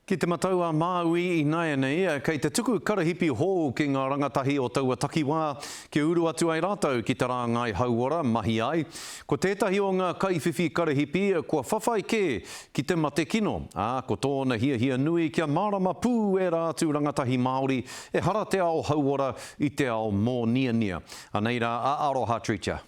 Ki te matau a Māui ināianei, kei te tuku karahipi hou ki ngā rangatahi o taua takiwā kia uru atu ai rātou ki te rāngai hauora mahi ai. Ko tētahi o ngā kaiwhiwhi karahipi kua whawhai kē ki te mate kino, ā, ko tōna hiahia nui kia mārama pū ērā atu rangatahi Māori ehara te ao hauora i te ao mōniania. Anei rā a Aroha Treacher.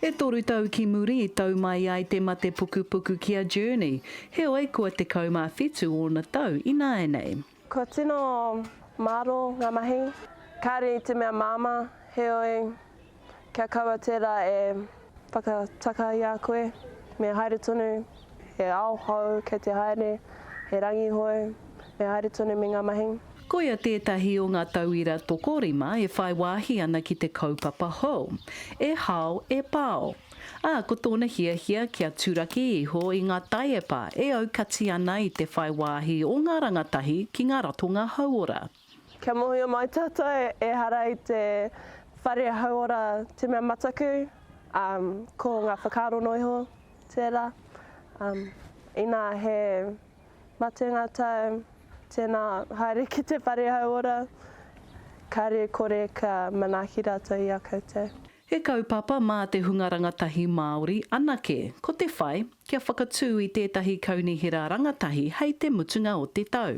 E toru tau ki muri i tau mai ai te mate pukupuku ki a Journey, heoi kua 17 ōna tau ināianei. Kua tino mārō ngā mahi, kāre i te mea māmā, heoi kia kaua tērā e. Whakatakaia koe, me haere tonu, he ao hou kei te haere, he rangi hou, me haere tonu me ngā mahi. Koia tētahi o ngā tauira tokorima e whai wāhi ana ki te kaupapa hou, E Hao e Pao, ā, ko tōna hiahia kia turaki iho i ngā taiepa e aukati ana i te whai wāhi o ngā rangatahi ki ngā ratonga hauora. Kia mohio mai tatou ehara i te whare hauora te mea mataku um ko nga whakaaro no iho tera um ina he matenga tau tena haere ki te whare hauora kare kore kia manaki ratou i a koutou. He kaupapa mā te hunga rangatahi Māori anake, ko te whai kia whakatū i tētahi kaunihera rangatahi hei te mutunga o te tau.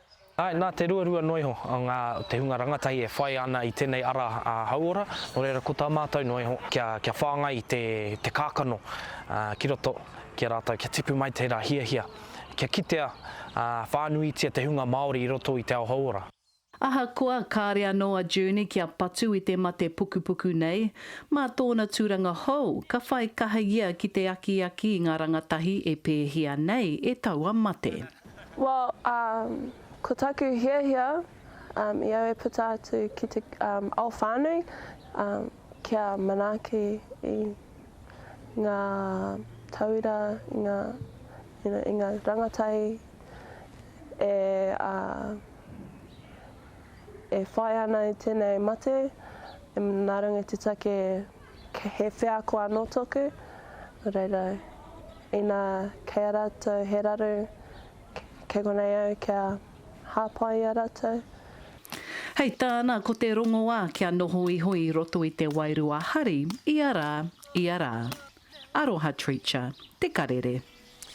Āe, nā te ruarua noa iho ngā te hunga rangatahi e whāia ana i tēnei ara hauora, nō reira ko tā mātou noa iho kia whāngai te kākano ki roto ki a rātou, kia tipu mai tērā hiahia, kia kitea whānuitia te hunga Māori i roto i te ao hauora. Ahakoa kāre anō a June kia patu i te mate pukupuku nei, mā tōna tūranga hou ka whai kaha ia ki te akiaki i ngā rangatahi e pēhia nei e taua mate. Well um ko taku hiahia um i au e puta atu ki te um ao whanui um kia manaaki i nga tauira i nga you know i nga rangatai e uh e whai ana i tenei mate e ngarunga te take He wheako anō tōku, nō reira, inā kei a rātou he raru, kei konei au kia hāpai i a rātou. Hei tāna, ko te rongoā kia noho iho i roto i te wairua hari ia rā, ia rā. Aroha Treacher, Te Karere.